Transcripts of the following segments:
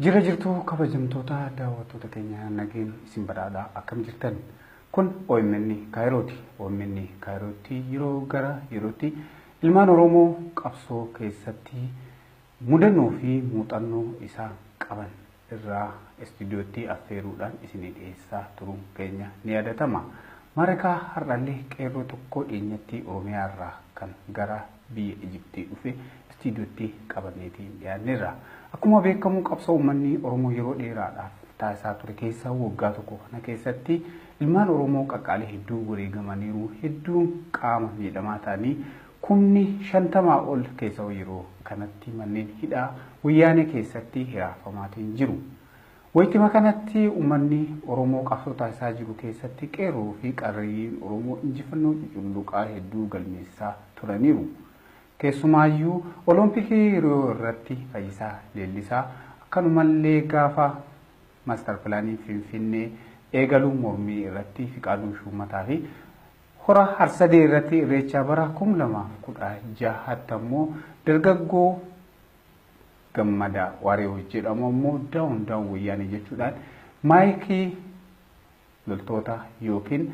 Jirra jirtuu kabajamtoota daawwattoota keenya nageen isin badhaadha akkam jirtan kun OMN Kaayirooti OMN Kaayirootti yeroo gara yerootti ilmaan Oromoo qabsoo keessatti mudannoo fi muuxannoo isaan qaban irraa istuudiyootti affeeruudhaan isinii dhiyeessaa turuun keenya ni yaadatama. Maarakaa har'allee qeerroo tokko dhiyeenyatti Oromiyaa irraa kan gara biyya Ijiptii dhufe istiidiyootti qabanneetiin dhiyaanneerra. Akkuma beekamu qabsoo uummanni Oromoo yeroo dheeraadhaaf taasisaa ture keessaa waggaa tokko kana keessatti ilmaan Oromoo qaqqaalii hedduu wareegamaniiru, hedduun qaama miidhamaa ta'anii kumni shantamaa ol keessawuu yeroo kanatti manneen hidhaa wayyaanee keessatti hiraarfamaatiin jiru. Waytima kanatti ummanni Oromoo qabsoo taasisaa jiru keessatti qeerroo fi qarreeyyiin Oromoo injifannoo cuculluqaa hedduu galmeessisaa turaniiru. Keessumaayyuu Oloompikii Riyoo irratti Fayyisaa Leellisaa akkanumallee gaafa Master Pilaaniin Finfinnee eegalu mormii irratti Fiqaaduu Shuummataa fi Hora Harsadee irratti Irreechaa bara 2016 tti ammoo dargaggoo Gammadaa Waari'u jedhamu ammoo daawun daawun wayyaanee jechuudhaan maayikii loltoota yookiin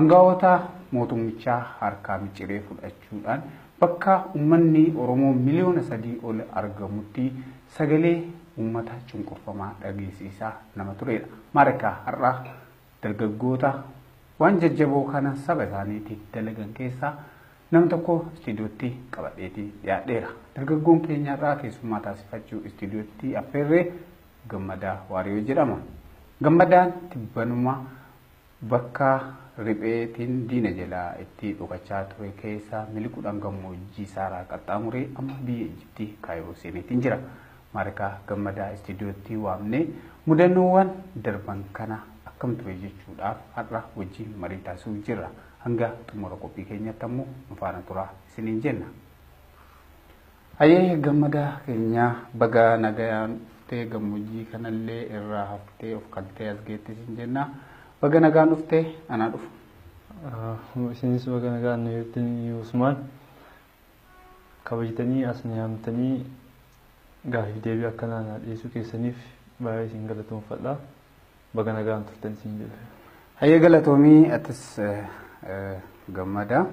angawoota mootummichaa harkaa miciree fudhachuudhaan bakka ummanni Oromoo miliyoona sadii ol argamutti sagalee ummata cunqurfamaa dhageessisaa nama turedha. Maarika har'a dargaggoota waan jajjaboo kana saba isaaniitiif dalagan keessaa Nama tokko istiidiyootti qabadheeti dhiyaadheera. Dargaggoon keenya har'aa keessummaa taasifachuu istiidiyootti affeerree Gammadaa Waariyoo jedhama. Gammadaan tibbanuma bakka ripheetiin diina jalaa itti dhokachaa ture keessa miliquudhaan gammoojjii saaraa qaxxaamuree amma biyya Ijipti Kaayiroo seeneetiin jira. Maarikaa Gammadaa istiidiyootti waamnee mudannoowwan darban kana akkam ture jechuudhaaf har'a wajjin marii taasisuuf jirra. Hanga xumura qophii keenyatti ammoo nu faana turaa isiniin jenna. Hayyee gammadaa keenya baga nagayaan dhuftee gammoojjii kanallee irraa haftee of kaltee as geette isin jenna. Baga nagaan dhuftee anaa dhufu. Isinis baga nagaan dhuftan Usmaan. Kabajtanii as nu yaamtanii gaafii deebii akkanaa na dhiyeessuu keessaniif baay'ee isin galatoomfadha. Baga nagaan turtan siin jedhe. Hayyee galatoomii atis gammadaa.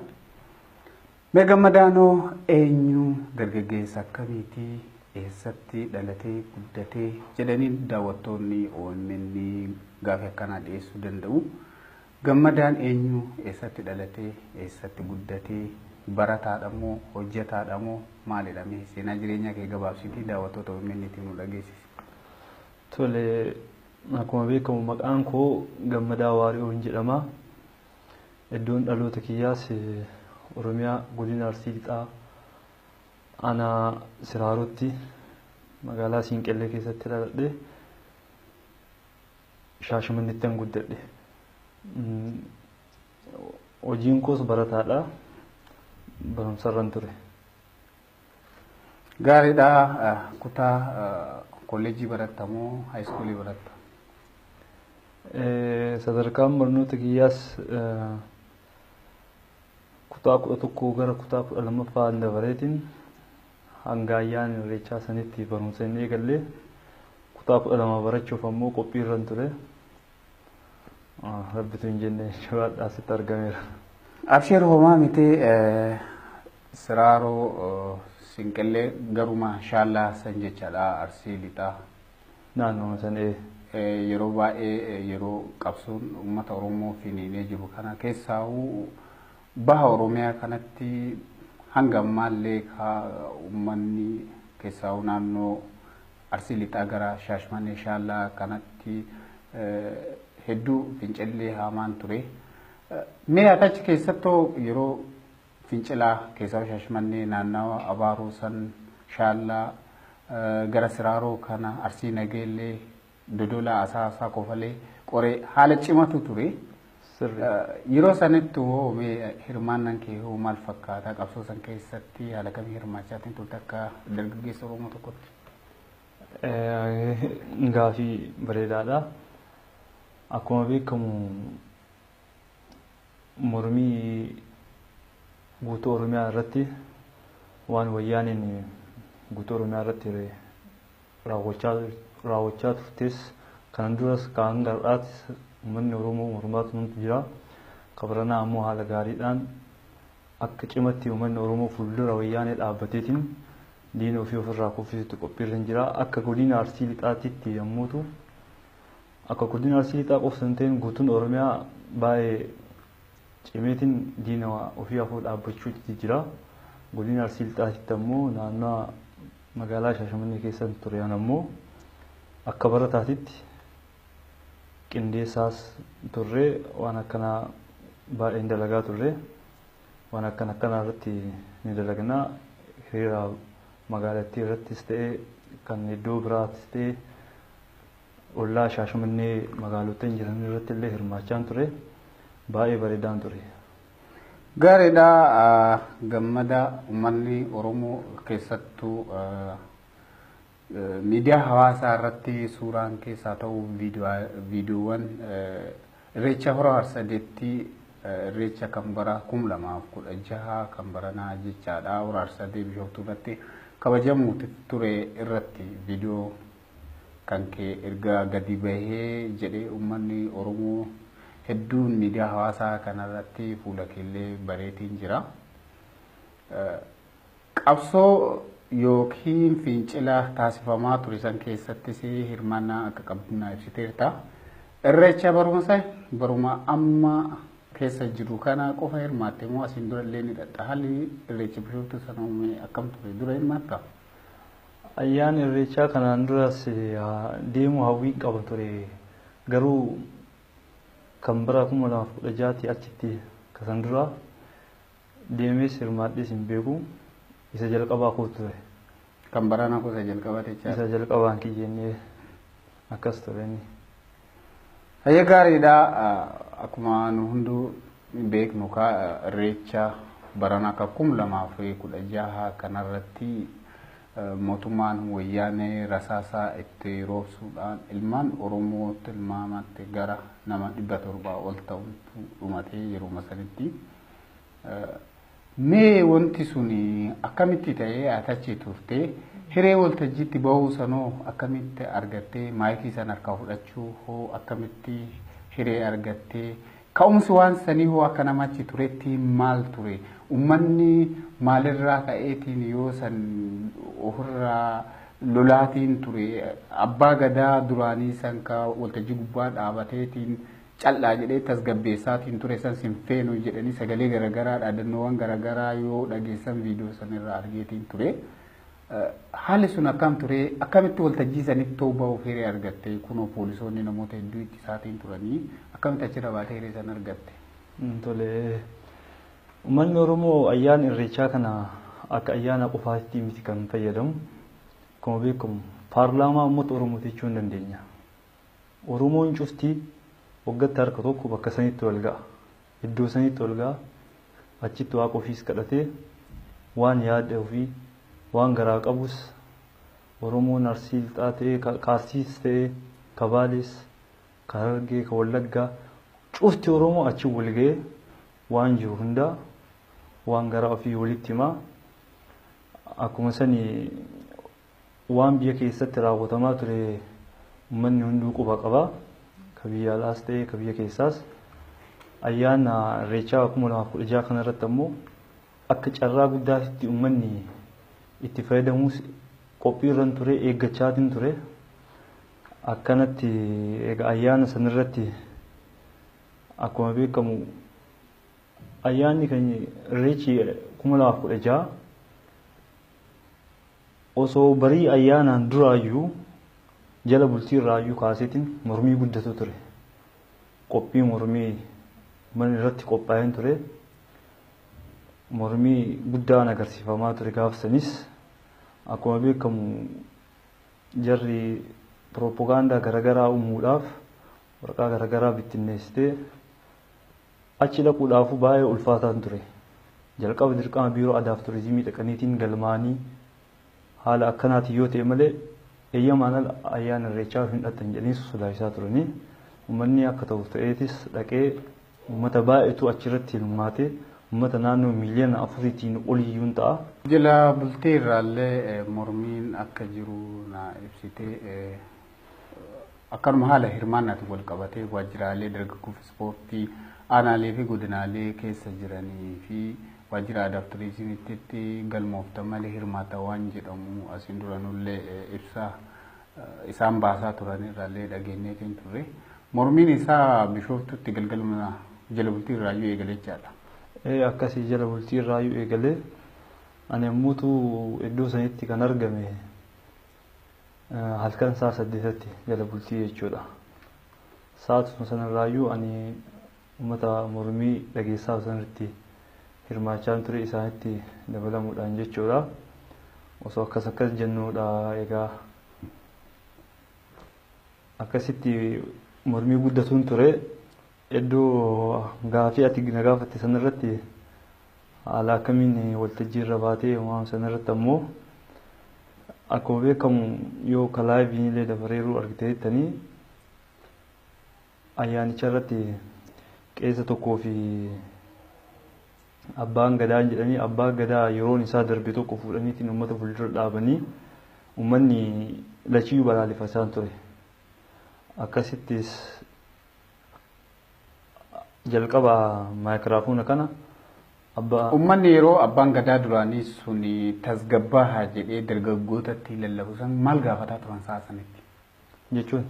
Mee gammadaanoo eenyu dargaggeessa akkamiiti eessatti dhalatee guddatee jedhanii daawwattoonni OMN gaaffii akkanaa dhiyeessuu danda'u. Gammadaan eenyu eessatti dhalatee eessatti guddatee barataadha moo hojjetaadha moo maalidha mee seenaa jireenyaa kee gabaabsitii daawwattoota OMN itti nu dhageessisi. Tole, akkuma beekamu maqaan koo Gammadaa Waari'oon jedhama. Iddoon dhaloota kiyyaas Oromiyaa Godina Arsii Lixaa Aanaa Siraarootti magaalaa Siinqellee keessatti dhaladhe. Shaashamannettan guddadhe. Hojiin koos barataadha. Barumsarran ture. Gaariidha. Kutaa kolleejjii baratta moo haayiskuulii baratta? Sadarkaan barnoota kiyyaas kutaa kudha tokkoo gara kutaa kudha lammaffaa dabareetiin hanga ayyaana irreechaa sanitti barumsa hin eegalle. Kutaa kudha lama barachuuf ammoo qophiirran ture. Rabbitu hin jenne jechuudha hadhaa sitti argameera. Absheer homaa miti siraaroo sinqillee garuma shaallaa san jechaadha arsii lixaa. Naannoo san ee. Yeroo baay'ee yeroo qabsoon uummata Oromoo finiinee jiru kana keessaahuu baha Oromiyaa kanatti hanga ammaallee kaa uummanni keessaahuu naannoo Arsii lixaa gara Shaashmannee Shaallaa kanatti hedduu fincilli haamaan ture. Mee ati achi keessattoo yeroo fincilaa keessaa Shaashmannee naannawa Abaaroo san Shaallaa gara Siraaroo kana Arsii Nageellee Dodolaa Asaasaa Kofalee Qoree haala cimatu ture. Sirri. Yeroo sanittu hoo mee hirmaannan kee hoo maal fakkaata? Qabsoo san keessatti haala kamii hirmaachaatiin turte akka dargaggeessa Oromoo tokkotti? Gaafii bareedaadha. Akkuma beekamu mormii guutuu Oromiyaa irratti waan wayyaaneen guutuu Oromiyaa irratti raawwachaa turtes kanan duras kan hanga har'aatis uummanni Oromoo mormaa turantu jira. Kabaranaa ammoo haala gaariidhaan akka cimatti uummanni Oromoo fuuldura wayyaanee dhaabbateetiin diina ofii ofirraa kuffisutti qophiirra hin jira. Akka godina Arsii Lixaatitti yommuu ta'u akka godina Arsii Lixaa qofa hin ta'in guutuun Oromiyaa baay'ee cimeetiin diina ofii afoo dhaabbachuutti jira. Godina Arsii Lixaatitti ammoo naannoo Magaalaa Shaashamannee keessan ture an ammoo akka barataatitti qindeessaas turre waan akkanaa baay'een dalagaa turre waan akkan akkanaa irratti ni dalagnaa hiriira magaalattii irrattis ta'e kan iddoo biraattis ta'e ollaa Shaashamannee magaalottan jiran irratti illee hirmaachaan ture baay'ee bareedaan ture. Gaariidha gammada uummanni Oromoo keessattuu miidiyaa hawaasaa irratti suuraan keessaa ta'u viidiyoowwan irreecha hora harsadeetti irreecha kan bara kum lamaaf kudha jaha kan baranaa jechaadha hora harsadee bishooftuu irratti kabajamuuti ture irratti viidiyoo kan kee erga gadi bahee jedhee ummanni Oromoo hedduun miidiyaa hawaasaa kanarratti fuula keellee bareetiin jira. Qabsoo yookiin fincila taasifamaa ture san keessattis hirmaannaa akka qabdu naa ibsiteerta. Irreecha barumsa baruma amma keessa jiru kana qofa hirmaatte moo asiin dura illee ni dhaxxa haalli irreecha bishooftuu sana uume akkam ture dura hirmaatta? Ayyaana Irreechaa kanaan duras deemuu hawwiin qaba ture. Garuu kan bara 2016 tii achitti ka san duraa deemees hirmaadhees hin beeku. Isa jalqabaa koo ture. Kan baranaa koo isa jalqabaati jechaadha. Isa jalqabaan kiyya inni akkas ture inni. Hayyee gaariidha. Akkuma nu hunduu beeknu kaa irreecha barana akka kum lamaa fi kudha jaha kanarratti mootummaan wayyaanee rasaasaa itti roobsuudhaan ilmaan Oromoo tilmaamatti gara nama dhibba torbaa ol ta'utu dhumatee yeruma sanitti Mee wanti sun akkamitti ta'ee ati achi turte? Hiree waltajjiitti bahuu sanoo akkamitti argattee? Maayikii san harkaa fudhachuu hoo akkamitti hiree argattee? Ka'umsi waan sanii hoo akka nama achi turetti maal ture? Ummanni maalirraa ka'eetiin yoo san ofirraa lolaatiin ture? Abbaa gadaa duraanii san ka waltajjii gubbaa dhaabateetiin cal'aa jedhee tasgabbeessaat hin ture san sin feenu jedhanii sagalee garagaraa dhaadannoowwan garagaraa yoo dhageessan viidiyoo san irraa argeetiin ture. Haalli sun akkaam ture akkamitti waltajjii sanitti ta'uu bahuuf hiree argatte kunoo poolisoonni namoota hedduu itti isaatiin turanii akkamitti achirra baatee hiree san argatte. Tole uummanni Oromoo ayyaana irreechaa kana akka ayyaana qofaatti miti kan fayyadamu. Akkuma beekamu paarlaamaa uummata Oromooti jechuu hin dandeenya. Oromoon cufti waggatti harka tokko bakka sanitti wal ga'a. Iddoo sanitti wal ga'a. Achitti Waaqa ofiis kadhatee waan yaada ofii, waan garaa qabus Oromoon Arsii Lixaa ta'ee, ka ka Arsiis ta'ee, ka Baalees, ka Harargee, ka Wallaggaa cufti Oromoo achi wal ga'ee waan jiru hundaa waan garaa ofii walitti himaa. Akkuma sani Waan biyya keessatti raawwatamaa ture ummanni hunduu quba qaba. Ka biyya alaas ta'ee ka biyya keessaas. Ayyaana Irreechaa 2016 kanarratti ammoo akka carraa guddaatitti ummanni itti fayyadamuus qophiirran ture eeggachaatiin ture. Akkanatti egaa ayyaana sanarratti akkuma beekamu ayyaanni keenya Irreechi 2016 osoo barii ayyaanaan duraayyuu jala bultii irraayyuu kaaseetiin mormii guddatu ture. Qophii mormii mana irratti qophaa'een ture. Mormii guddaan agarsiifamaa ture gaafsanis akkuma beekamu jarri pirooppogaandaa garagaraa uumuudhaaf waraqaa garagaraa bittinneessitee Achi dhaquudhaafuu baay'ee ulfaataan ture. Jalqaba dirqama Biiroo Aadaaf Turizimii dhaqaniitiin galmaa'anii haala akkanaatiin yoo ta'e malee eeyyamaan ala ayyaana irreechaa hin dhaqxan jedhanii sodaachisaa turanii. Uummanni akka ta'u ta'eetis dhaqee uummata baay'eetu achirratti hirmaate. Uummata naannoo miiliyoona afuriitiin oliyyuun ta'a. Jila bultii irraallee mormiin akka jiru naa ibsite. Akkanuma haala hirmaannaatiin wal qabatee waajjiraalee dargaggoo fi ispoortii aanaalee fi godinaalee keessa jiranii fi waajjira aadaa fi turizimiitti galmooftan malee hirmaata waan jedhamu asiin duranullee ibsa isaan baasaa turan irraallee dhageenyeetiin turre. Mormiin isaa bishooftutti galgaluma jala bultii irraayyuu eegalee jechaadha. Akkasii jala bultii irraayyuu eegalee ani ammuutu iddoo sanitti kan argame halkan sa'a saddeetatti jala bultii jechuudha. Sa'aatuma sanarraayyuu ani uummata mormii dhageessaa sanarratti hirmaachaan ture isaanitti dabalamuudhaan jechuudha. Osoo akkas akkas jennuudha egaa akkasitti mormii guddatuun ture Hedduu gaafii ati na gaafatte san irratti haala akkamiin waltajjii irra baatee waan san irratti ammoo akkuma beekamu yoo ka laayiviin illee dabareeruu argiteettanii ayyaanicha irratti qeesa tokkoo fi abbaan gadaa jedhanii abbaa gadaa yeroon isaa darbe tokko fuudhaniitiin uummata fuuldura dhaabanii uummanni lachiyyuu balaaleffachaa ture. Akkasittis Jalqaba maayikiraafoona kana abba. Ummanni yeroo abbaan gadaa duraanii sun tasgabbaahaa jedhee dargaggootatti lallabu san maal gaafataa turan sa'a sanitti? Jechuun?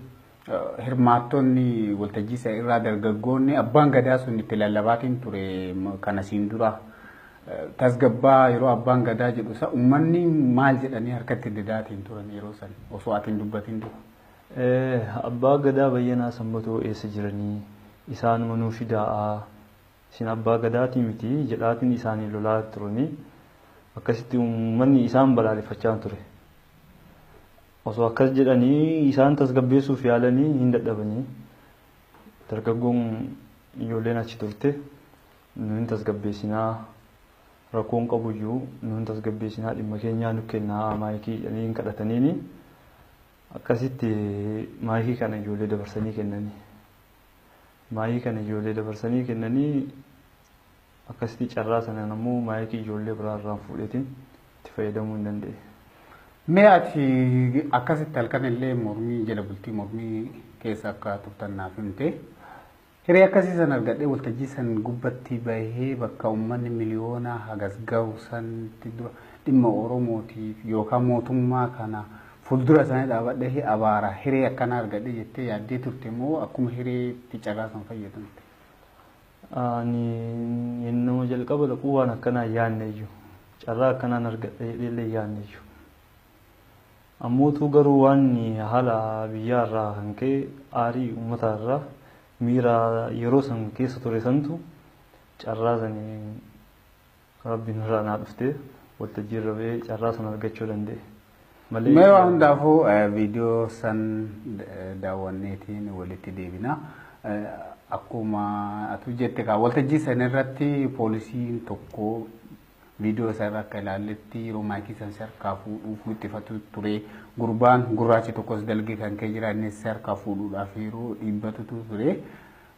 Hirmaattonni waltajjii sana irraa dargaggoonni abbaan gadaa sun itti lallabaatiin ture kana siin dura tasgabbaa yeroo abbaan gadaa jedhu sana ummanni maal jedhanii harkatti didaatiin turan yeroo san osoo ati hin dubbatin dura? Abbaa gadaa bayyanaa sanbatoo eessa jiranii isaanuma nuu fidaa'a isin abbaa gadaatii miti jedhaatiin isaaniin lolaa turanii akkasitti uummanni isaan balaaleffachaan ture osoo akkas jedhanii isaan tasgabbeessuuf yaalanii hin dadhabanii dargaggoon ijoolleen achi turte nu hin tasgabbeessinaa rakkoon qabuyyuu nu hin tasgabbeessinaa dhimma keenyaa nu kennaa maayikii jedhanii hin kadhataniini. Akkasitti maayikii kana ijoollee dabarsanii kennanii. Maayikii kana ijoollee dabarsanii kennanii akkasitti carraa sanaan ammoo maayikii ijoollee biraa irraan fuudheetiin itti fayyadamuu hin danda'e. Mee ati akkasitti halkan illee mormii jala bultii mormii keessa akka turtan naaf himte. Hiree akkasii san argadhee waltajjii san gubbatti bahee bakka ummanni miliyoonaa hagas gahu sanitti dura dhimma Oromootiif yookaa mootummaa kana fuldura isaanii dhaabadhee abaara. Hiree akkanaa argadhe jettee yaaddee turte moo akkuma hireetti carraa san fayyadamte? Ani yennuma jalqaba dhaqu waan akkanaa hin yaanneyyu. Carraa akkanaan argadha jedheellee hin yaanneyyu. Ammootuu garuu waanni haala biyyaa irraa kan ka'e aarii uummataa irraa miira yeroo san keessa ture santu carraa saniin rabbiin irraa naa dhuftee waltajjii irra ba'ee carraa san argachuu danda'e. Malee Mee waan hundaafuu eh, viidiyoo san eh, daawwanneetiin walitti deebina. Eh, Akkuma atu jette kaa waltajjii san irratti poolisiin tokko Viidiyoo isaa irraa akka ilaalletti yeroo maayikii san si harkaa fuudhuuf wixxifatu ture. Gurbaan gurraachi tokkos dalgee kan ka'e jira innis si harkaa fuudhuudhaaf yeroo dhiibbatutu ture.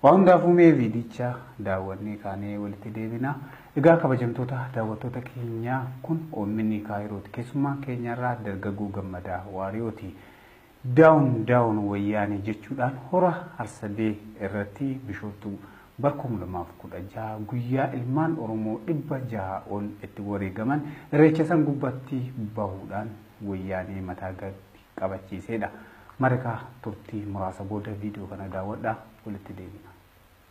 Waa hundaafuu mee viidicha daawwannee kaanee walitti deebina. Egaa kabajamtoota daawwattoota keenyaa kun OMN Kaayirooti. Keessummaan keenyarraa dargaggoo gammadaa waariyooti. Down down Wayyaanee jechuudhaan Hora Harsadee irratti Bishooftuu bara 2016 guyyaa ilmaan Oromoo 600 ol itti wareegaman Irreecha san gubbatti bahuudhaan Wayyaanee mataa gad qabachiiseedha. Mareka turtii muraasa booda video kana daawwadhaa walitti deebina.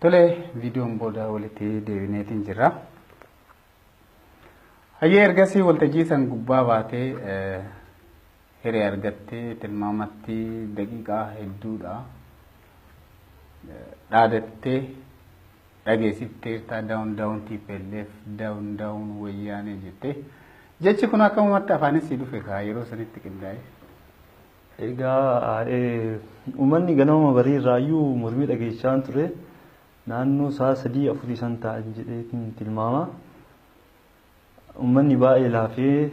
Tole viidiyoon booda walitti deebineetiin jirra. Hayyee ergasii waltajjii san gubbaa baatee Hiree argatte tilmaamatti daqiiqaa hedduudha. Dhaadattee dhageessifteertaa daawun daawun TPLF daawun daawun wayyaanee jettee. Jechi kun akkamumatti afaanis si dhufe kaa yeroo sanitti qindaa'e. Egaa eh, uummanni ganama barii irraayyuu mormii dhageessaan ture naannoo sa'a sadii afurii san ta'an jedheetiin tilmaama. Ummanni baay'ee laafee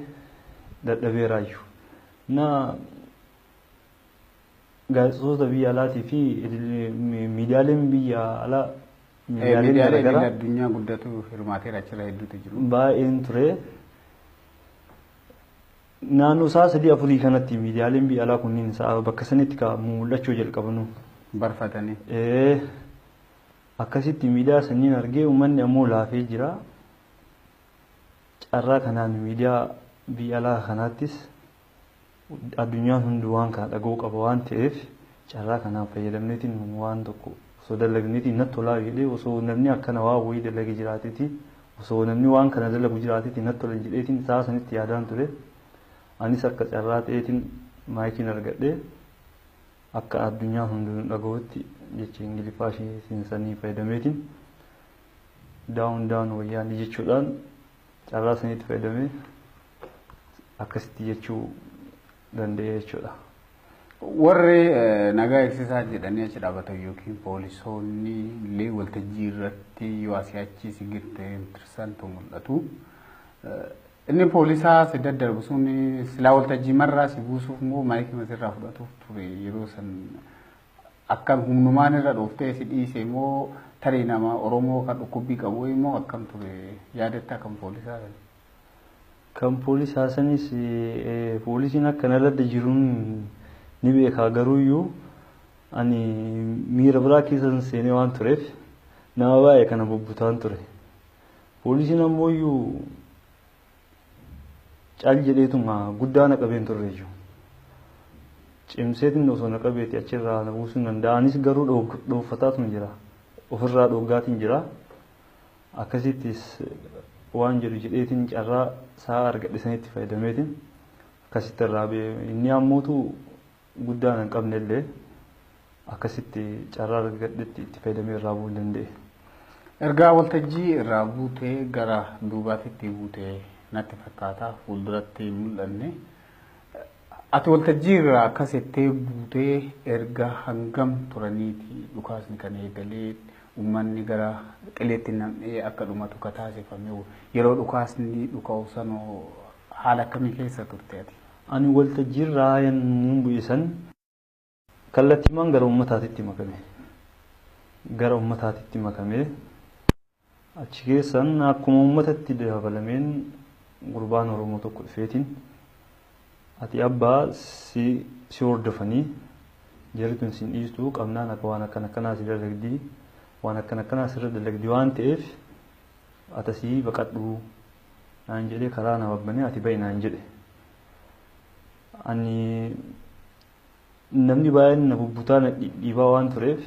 dadhabeeraayyu. Na gaazexoota biyya alaatii fi miidiyaaleen biyya alaa miidiyaaleen garaagaraa addunyaa guddatu hirmaateera achirra hedduutu jiru. Baay'een ture. Naannoo sa'a sadii afurii kanatti miidiyaaleen biyya alaa kunniin sa'a bakka sanitti ka mul'achuu jalqabanu. Barfatanii. Akkasitti miidiyaa sanniin argee uummanni ammoo laafee jira. Carraa kanaan miidiyaa biyya alaa kanaattis addunyaan hunduu waan kana dhaga'uu qaba waan ta'eef carraa kanaan fayyadamneetiin waan tokko osoo dalagneetiin natti tolaa jedhee osoo namni akkana waa wayii dalage jiraateetiin osoo namni waan kana dalagu jiraateetiin natti tolan jedheetiin isaa sanitti yaadaan ture. Anis akka carraa ta'eetiin maayikiin argadhee akka addunyaa hunduu nu dhaga'utti jecha Ingiliffaa ishee sanii fayyadameetiin down down wayyaanee jechuudhaan carraa saniitti fayyadamee akkasitti jechuu danda'e jechuudha. Warri eh, nagaa eegsisaa jedhanii achi dhaabatan yookiin poolisoonni illee waltajjii irratti yoo asii achi si girte tirsantu mul'atu. Eh, Inni poolisaa si daddarbu sun silaa waltajjii marraa si buusuuf moo maayikii masirraa fudhatuuf ture yeroo san Akkam humnumaan irra dhooftee si dhiisee moo tarii nama Oromoo kan dhukkubbii qabu wayii moo akkam ture yaadattaa kan poolisaa sana? Kan poolisaa sanis poolisiin akka na ladda jiruun ni beekaa garuuyyuu ani miira biraa keessan seenee waan tureef nama baay'ee kana bubbutaan ture. Poolisiin ammooyyuu Cal jedheetuma guddaa na qabeen turreeyyu. Cimseetiin osoo na qabeeti achirraa na buusuu hin danda'a. Anis garuu dhoofataatuma jira. Ofirraa dhooggaatiin jira. Akkasittis waan jedhu jedheetiin carraa sa'a argadhe sanitti fayyadameetiin akkasitti irraa ba'e. Inni ammootu guddaa anan qabne illee akkasitti carraa argadhetti itti fayyadamee irraa bu'uu hin danda'e. Ergaa waltajjii irraa buutee gara duubaatitti buute natti fakkaata fuulduratti hin mul'anne. Ati waltajjii irraa akkas jettee buutee erga hangam turaniiti dhukaasni kan eegalee uummanni gara qileetti nam'ee akka dhumatu ka taasifame yeroo dhukaasni dhuka'u sanoo haala akkamii keessa turte ati? Ani waltajjiirraa yammuun bu'e san kallattiimaan gara ummataatitti makame. Gara ummataatitti makame. Achi keessan akkuma ummatatti dabalameen gurbaan Oromoo tokko dhufeetiin ati abbaa si si hordofanii jarri tun sin dhiistu qabnaan akka waan akkan akkanaa si dalagdi waan akkan akkanaa sirra dalagdi waan ta'eef atasii baqadhu naan jedhee karaa na wabbane ati ba'i naan jedhe. Ani namni baay'een na bubbutaa na dhidhiibaa waan tureef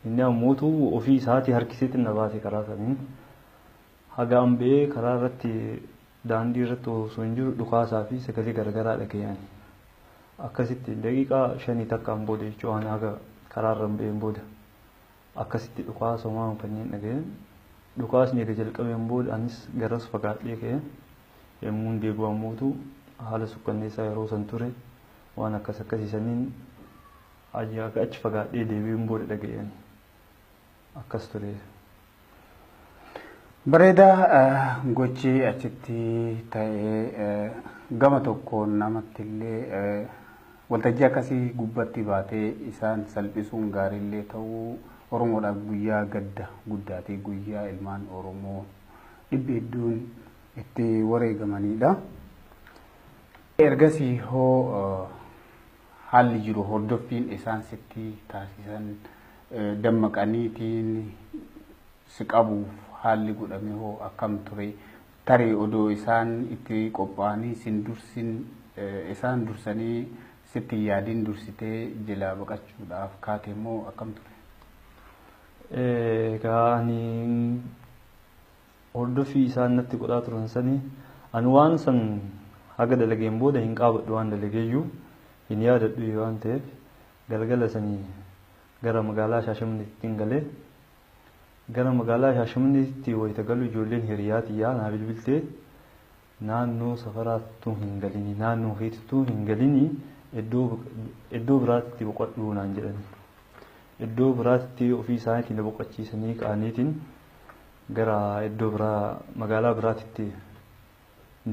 inni ammootu ofii isaatii harkiseetti na baase karaa saniin. Haga an ba'ee karaa irratti daandii irratti osoo hin jiru dhukaasaa fi sagalee garagaraa dhaga'an. Akkasitti daqiiqaa shanii takkaan booda jechuun haga karaa irra hin ba'een booda. Akkasitti dhukaasa homaa hin fanneen dhaga'e. Dhukaasni erga jalqabeen booda anis garas fagaadhee ka'e. Yemmuun deebi'u ammootu haala sukkanneessaa yeroo san ture. Waan akkas akkasii saniin aga achi fagaadhee deebi'uun booda dhaga'e ani. Akkas ture. Bareedaa gochi achitti ta'e gama tokkoon namatti illee Waltajjii akkasii gubbatti baatee isaan salphisuun gaariillee ta'uu Oromoodhaaf guyyaa gadda guddaati, guyyaa ilmaan Oromoo dhibbi hedduun itti wareegamaniidha. Ergasii hoo haalli jiru hordoffiin isaan sitti taasisan dammaqaniitiin si qabuuf haalli godhame hoo akkam ture? Tarii odoo isaan itti qophaa'anii sin dursin isaan dursanii sitti hin yaadin dursitee jelaa baqachuudhaaf kaate moo akkam ture? Egaa ani hordoffii isaan natti godhaa turan sanii ani waan san haga dalageen booda hin qaabadhu waan dalageeyyuu hin yaadadhu waan ta'eef galgala sanii gara magaalaa Shaashamanneettiin galee Gara magaalaa Shaashamanneetitti wayita galu ijoolleen hiriyaa tiyyaa naa bilbiltee naannoo safaraa ttuu hin galinii naannoo keeti ttuu hin galinii iddoo biraatitti boqadhuu naan jedhanii. Iddoo biraatitti ofii isaaniitiin na boqachiisanii ka'aniitiin gara iddoo biraa magaalaa biraatitti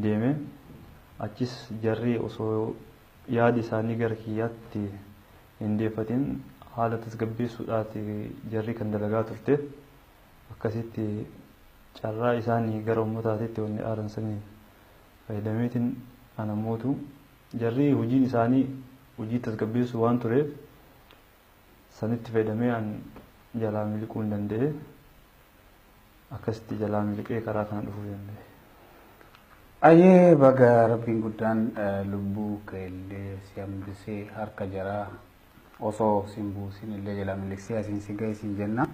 deeme. Achiis jarri osoo yaadi isaanii gara kiyyaatti hin deeffatin haala tasgabbeessuudhaati jarri kan dalagaa turte. Akkasitti carraa isaanii gara ummataatitti wanni aaran sanii fayyadameetiin ana mootu. Jarri hojiin isaanii hojii tasgabbeessuu waan tureef Sanitti fayyadamee an jalaa miliquu hin danda'e. Akkasitti jalaa miliqee karaa kana dhufuu danda'e. Ayyee baga rabbiin guddaan eh, lubbuu keellee si hambisee harka jaraa osoo sin buusin illee jalaa miliqsee asiin si ga'e siin jenna.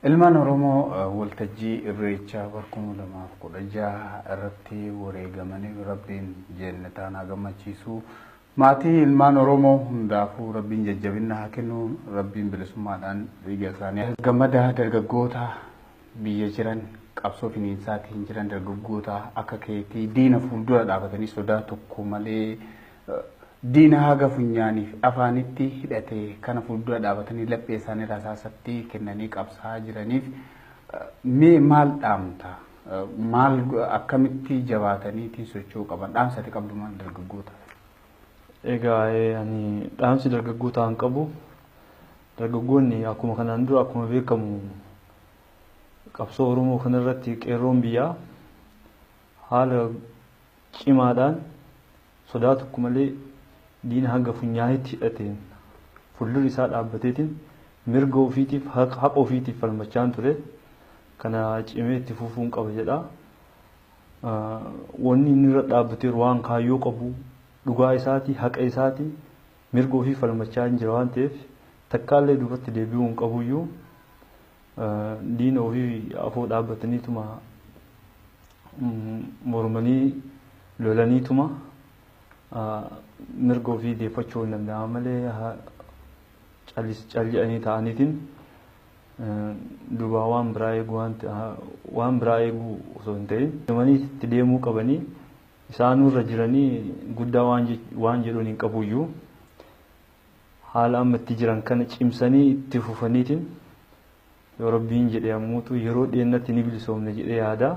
Ilmaan Oromoo waltajjii Irreechaa bara kuma lamaa fi kudha jaha irratti wareegamaniif Rabbiin jeennataan haa gammachiisu. Maatii ilmaan Oromoo hundaafuu Rabbiin jajjabinna haa kennu. Rabbiin bilisummaadhaan dhiiga isaanii haa gammada dargaggoota biyya jiran qabsoo finiinsaatiin jiran dargaggoota akka keetii diina fuuldura dhaabatanii sodaa tokko malee Diina haga funyaanii fi afaanitti hidhate kana fuuldura dhaabatanii laphee isaanii rasaasatti kennanii qabsaa'aa jiraniif mee maal dhaamta? Maal akkamitti jabaataniitiin socho'uu qaban? Dhaamsa ati qabdu maal dargaggootaaf? Egaa ani dhaamsi dargaggootaan qabu dargaggoonni akkuma kanaan dura akkuma beekamu qabsoo Oromoo kanarratti qeerroon biyyaa haala cimaadhaan sodaa tokko malee diina hanga funyaaneetti hidhateen fuldura isaa dhaabbateetiin mirga ofiitiif haqa ofiitiif falmachaan ture kana cimee itti fufuun qaba jedha. Wanni inni irra dhaabbateeru waan kaayyoo qabu dhugaa isaati haqa isaati mirga ofii falmachaa hin jira waan ta'eef takkaallee duubatti deebi'uu hin qabuyyuu diina ofii afoo dhaabbataniituma mormanii lolaniituma mirga ofii deeffachuu hin danda'an malee calli'anii ta'aniitiin duubaa waan biraa eeguu waan biraa eeguu osoo hin ta'in deemanii itti deemuu qabanii isaanuu irra jiranii guddaa waan jedhuun hin qabuyyuu haala amma itti jiran kana cimsanii itti fufaniitiin yoo rabbiin jedhe ammuutu yeroo dhiyeennatti ni bilisoomne jedhee yaada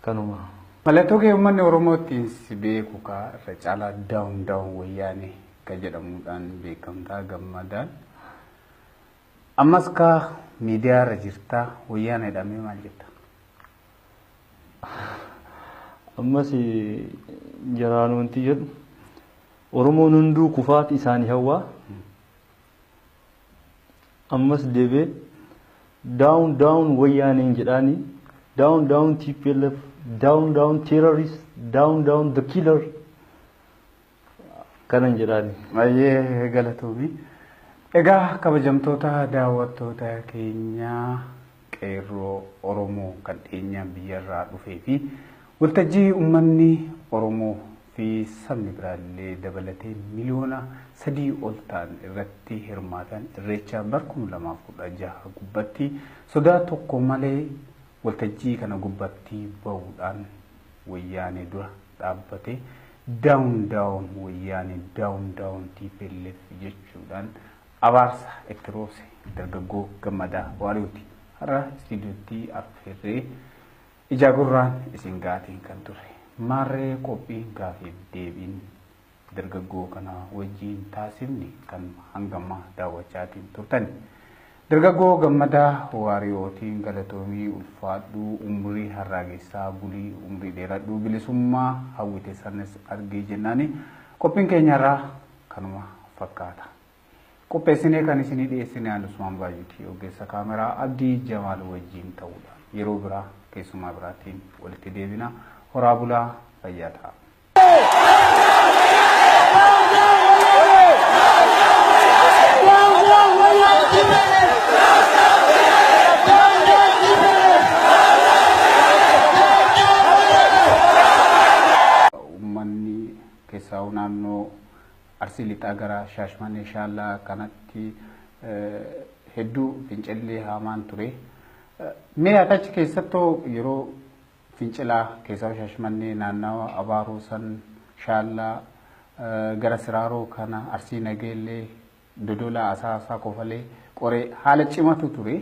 kanuma. Mallattoo kee uummanni Oromoo ittiin si beeku kaa irra caalaa daawun daawun wayyaanee ka jedhamuudhaan beekamtaa gammadaan. Ammas kaa miidiyaa irra jirtaa wayyaanee dhamee maal jetta? Ammas jaraanuu wanti jedhu Oromoon hunduu kufaati isaani hawwaa. Ammas deebee down down wayyaaneen jedhaani down down TPLF down down terrorist down down the killer kanan jedhaani. Baay'ee galatoomi. Egaa kabajamtoota daawwattoota keenyaa. Qeerroo Oromoo kan dhiyeenyaan biyyarraa dhufee fi waltajjii ummanni Oromoo fi sabni biraa illee dabalatee miliyoona sadii ol ta'an irratti hirmaatan Irreecha bar 2016 gubbatti sodaa tokko malee waltajjii kana gubbatti ba'uudhaan Wayyaanee dura dhaabbate down down Wayyaanee down down tplf jechuudhaan Abaarsa itti roobse dargaggoo Gammadaa Waariyooti har'a istiidiyootti affeerree ijaa gurraan isin ga'aatiin kan turre. Maarree qophiin gaafiif deebiin dargaggoo kana wajjiin taasifne kan hangammaa daawwachaatiin turtani. Dargaggoo Gammadaa Waariyootiin galatoomii ulfaadhuu umrii harraagessaa bulii umrii dheeradhuu bilisummaa hawwite sanas argii jennaani qophiin keenyarraa kanuma fakkaata. Qopheessinee kan isinii dhiyeessine aan Usmaan Baay'uuti ogeessa kaameraa Abdii Jamaal wajjiin ta'uudhaan yeroo biraa keessummaa biraatiin walitti deebina horaa bulaa fayyaa ta'a. Keessaahuu naannoo Arsii Lixaa gara Shaashmanee Shaallaa kanatti hedduu fincilli haamaan ture. Mee ati achi keessattoo yeroo fincilaa keessaahuu Shaashmannee naannawa Abaaroo san Shaallaa gara Siraaroo kana Arsii Nageellee Dodolaa, Asaasaa, Kofalee, Qoree haala cimatu ture.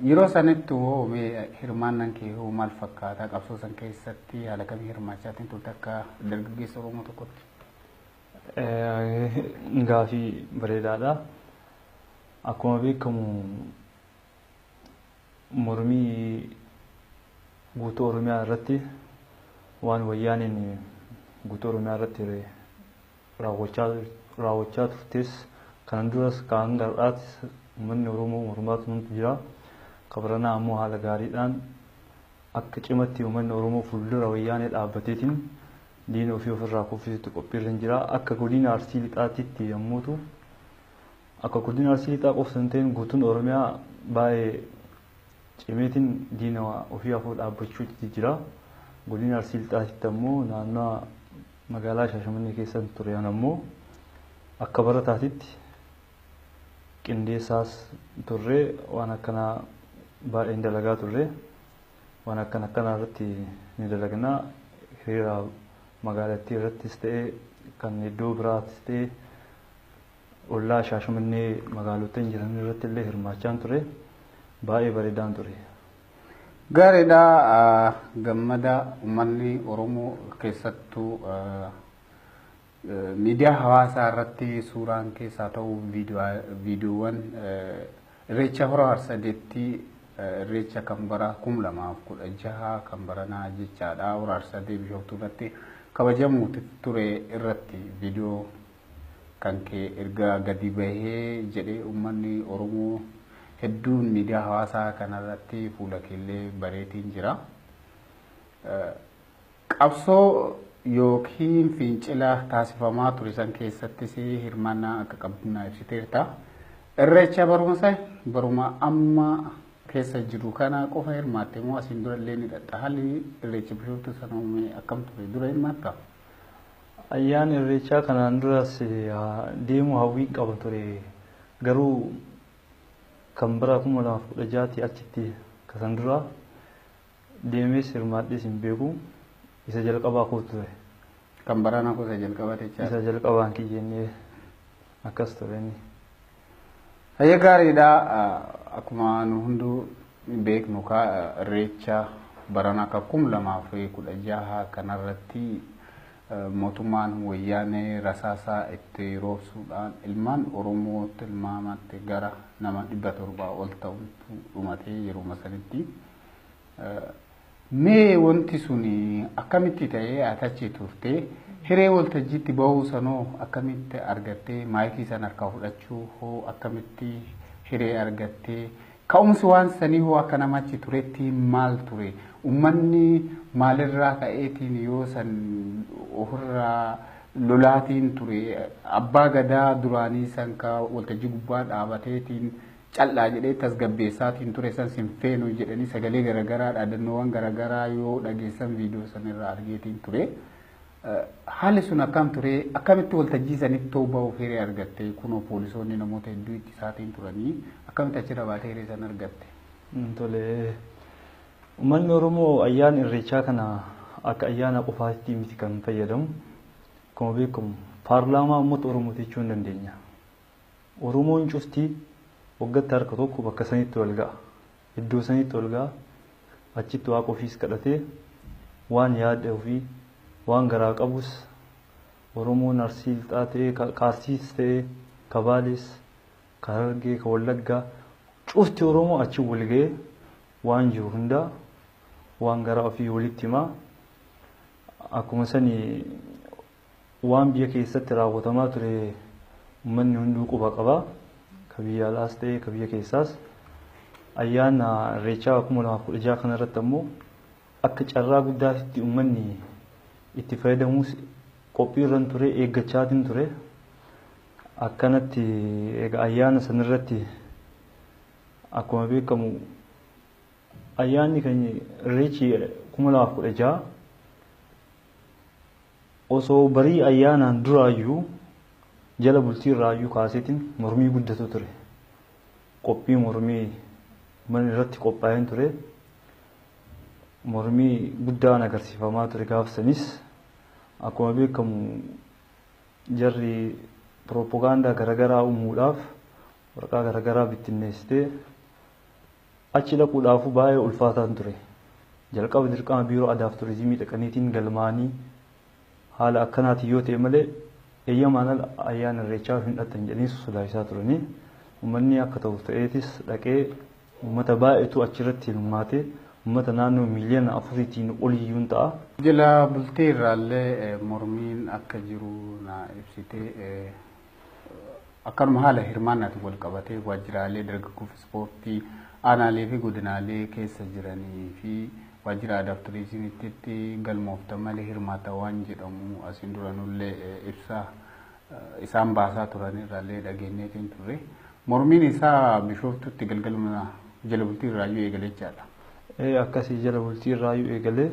Yeroo sanitti hoo mee hirmaannaan kee hoo maal fakkaata? Qabsoo san keessatti haala kamii hirmaachaatiin turte akka dargaggeessa Oromoo tokkotti? Gaafii bareedaadha. Akkuma beekamu mormii guutuu Oromiyaa irratti waan wayyaaneen guutuu Oromiyaa irratti raawwachaa turtes kana duras kan hanga har'aattis uummanni Oromoo mormaa turantu jira. Kan baranaa ammoo haala gaariidhaan akka cimatti uummanni Oromoo fuuldura wayyaanee dhaabbateetiin diina ofii ofirraa kuffisutti qophiirra hin jira. Akka godina Arsii Lixaatitti yommuu ta'u akka godina Arsii Lixaa qofti hin ta'in guutuun Oromiyaa baay'ee cimeetiin diina ofii afoo dhaabbachuutti jira. Godina Arsii Lixaatitti ammoo naannoo Magaalaa Shaashamannee keessan ture an ammoo akka barataatitti qindeessaas turre waan akkanaa baay'een dalagaa turre waan akkan akkanaa irratti ni dalagnaa hiriira magaalattii irrattis ta'e kan iddoo biraattis ta'e ollaa Shaashamannee magaalottan jiran irratti illee hirmaachaan ture baay'ee bareedaan ture. Gaariidha gammada uummanni Oromoo keessattuu miidiyaa hawaasaa irratti suuraan keessaa ta'u viidiyoowwan irreecha hora harsadeetti irreecha kan bara kum lamaaf kudha jaha kan baranaa jechaadha hora harsadee bishooftuu irratti kabajamuuti ture irratti viidiyoo kan kee erga gadi bahee jedhee ummanni Oromoo hedduun miidiyaa hawaasaa kanarratti fuula keellee bareetiin jira. Qabsoo yookiin fincila taasifamaa ture san keessattis hirmaannaa akka qabdu naa ibsiteerta. Irreecha barumsa baruma amma keessa jiru kana qofa hirmaatte moo asiin dura illee ni dhatta haalli irreecha bishooftuu sana uume akkam ture dura hirmaatta? Ayyaana Irreechaa kanaan duras deemuu hawwiin qaba ture. Garuu kan bara 2016 tii achitti ka san duraa deemees hirmaadhees hin beeku. Isa jalqabaa koo ture. Kan baranaa koo isa jalqabaa jechaa? Isa jalqabaan kiyya inni. Akkas ture inni. Hayyee gaariidha. Akkuma nu hunduu beeknu kaa irreecha barana akka kum lamaa fi kudha jaha kanarratti mootummaan wayyaanee rasaasaa itti roobsuudhaan ilmaan Oromoo tilmaamatti gara nama dhibba torbaa ol ta'utu dhumatee yeruma sanitti. Mee wanti sun akkamitti ta'ee ati achi turtee hiree waltajjiitti bahuu sanoo akkamitti argattee maayikii san harkaa fudhachuu hoo akkamitti hiree argattee ka'umsi waan sanii hoo akka nama achi turetti maal ture ummanni maalirraa ka'eetiin yoo san ofirraa lolaatiin ture abbaa gadaa duraanii san ka waltajjii gubbaa dhaabateetiin cal'aa jedhee tasgabbeessaatiin ture san sin feenu jedhanii sagalee garagaraa dhaadannoowwan garagaraa yoo dhageessan viidiyoo san irraa argeetiin ture. Haalli sun akkam ture akkamitti waltajjii sanitti too ba'uuf hiree argatte kunoo poolisoonni namoota hedduu itti isaatiin turanii akkamitti achirra baatee hiree san argatte. Tole uummanni Oromoo ayyaana irreechaa kana akka ayyaana qofaatti miti kan fayyadamu. Akkuma beekamu paarlaamaa uummata Oromooti jechuu hin dandeenya. Oromoon cufti waggatti harka tokko bakka sanitti wal ga'a. Iddoo sanitti wal ga'a. Achitti Waaqa ofiis kadhatee waan yaada ofii, waan garaa qabus Oromoon Arsii Lixaa ta'ee, ka ka Arsiis ta'ee, ka Baalees, ka Harargee, ka Wallaggaa cufti Oromoo achi wal ga'ee waan jiru hundaa waan garaa ofii walitti himaa. Akkuma sani Waan biyya keessatti raawwatamaa ture ummanni hunduu quba qaba. Ka biyya alaas ta'ee ka biyya keessaas. Ayyaana Irreechaa 2016 kana irratti ammoo akka carraa guddaatitti ummanni itti fayyadamuus qophii irran ture eeggachaatiin ture. Akkanatti egaa ayyaana san irratti akkuma beekamu ayyaanni keenya Irreechi 2016 Osoo barii ayyaanaan duraayyuu jala bultii irraayyuu kaaseetiin mormii guddatu ture. Qophii mormii man irratti qophaa'een ture. Mormii guddaan agarsiifamaa ture gaaf sanis akkuma beekamu jarri pirooppogaandaa garagaraa uumuudhaaf waraqaa garagaraa bittinneessitee Achi dhaquudhaafuu baay'ee ulfaataan ture. Jalqaba dirqama Biiroo Adaaf Turizimii dhaqaniitiin galmaa'anii haala akkanaatiin yoo ta'e malee eeyyamaan ala ayyaana irreechaaf hin dhaqxan jedhanii sodaachisaa turanii. Uummanni akka ta'uuf ta'eetis dhaqee uummata baay'eetu achirratti hirmaate. Uummata naannoo miiliyoona afuriitiin oliyyuun ta'a. Jila bultii irraallee mormiin akka jiru naa ibsite. akkanuma haala hirmaannaatiin wal qabatee waajjiraalee dargaggoof ispoortii aanaalee fi godinaalee keessa jiranii fi waajjira aadaaf turizimiitti galmooftan malee hirmaata waan jedhamu asiin duranullee ibsa isaan baasaa turan irraallee dhageenyeetiin turre. Mormiin isaa bishooftutti galgaluma jala bultii irraayyuu eegalee jechaadha. Akkasii jala bultii irraayyuu eegalee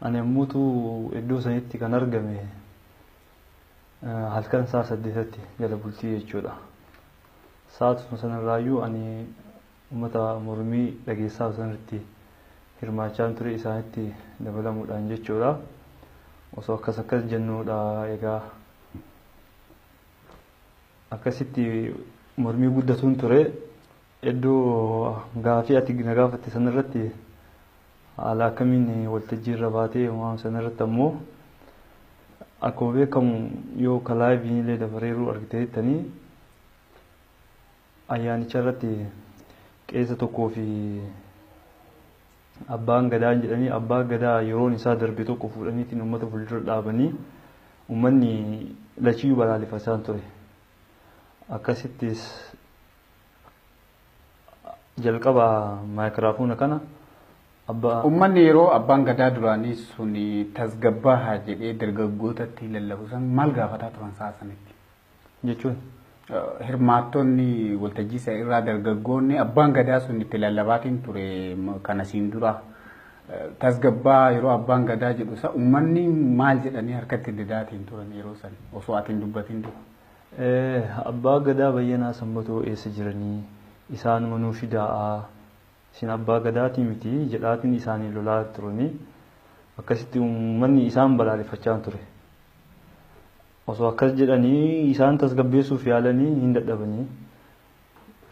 ani ammuutu iddoo sanitti kan argame Halkan sa'a saddeetatti jala bultii jechuudha. Sa'aatuma sanarraayyuu ani uummata mormii dhageessaa sanarratti hirmaachaan ture isaanitti dabalamuudhaan jechuudha. Osoo akkas akkas jennuudha egaa akkasitti mormii guddatuun ture Hedduu gaafii ati na gaafatte san irratti haala akkamiin waltajjii irra baatee waan san irratti ammoo akkuma beekamu yoo ka laayiviin illee dabareeruu argiteettanii ayyaanicha irratti qeessa tokkoo fi abbaan gadaa jedhanii abbaa gadaa yeroon isaa darbe tokko fuudhaniitiin uummata fuuldura dhaabanii uummanni lachiyyuu balaalefachaan ture akkasittis Jalqaba maayikiraafoona kana abba. Ummanni yeroo abbaan gadaa duraanii sun tasgabbaahaa jedhee dargaggootatti lallabu san maal gaafataa turan sa'a sanitti? Jechuun? Hirmaattonni waltajjii san irraa dargaggoonni abbaan gadaa sun itti lallabaatiin ture kana siin dura tasgabbaa yeroo abbaan gadaa jedhu san ummanni maal jedhanii harkatti didaatiin turan yeroo san osoo ati hin dubbatiin dura? Abbaa gadaa bayyanaa sanbatoo eessa jiranii isaanuma nuu fidaa'aa isin abbaa gadaatii miti jedhaatiin isaaniin lolaa turanii akkasitti uummanni isaan balaaleffachaan ture osoo akkas jedhanii isaan tasgabbeessuuf yaalanii hin dadhabanii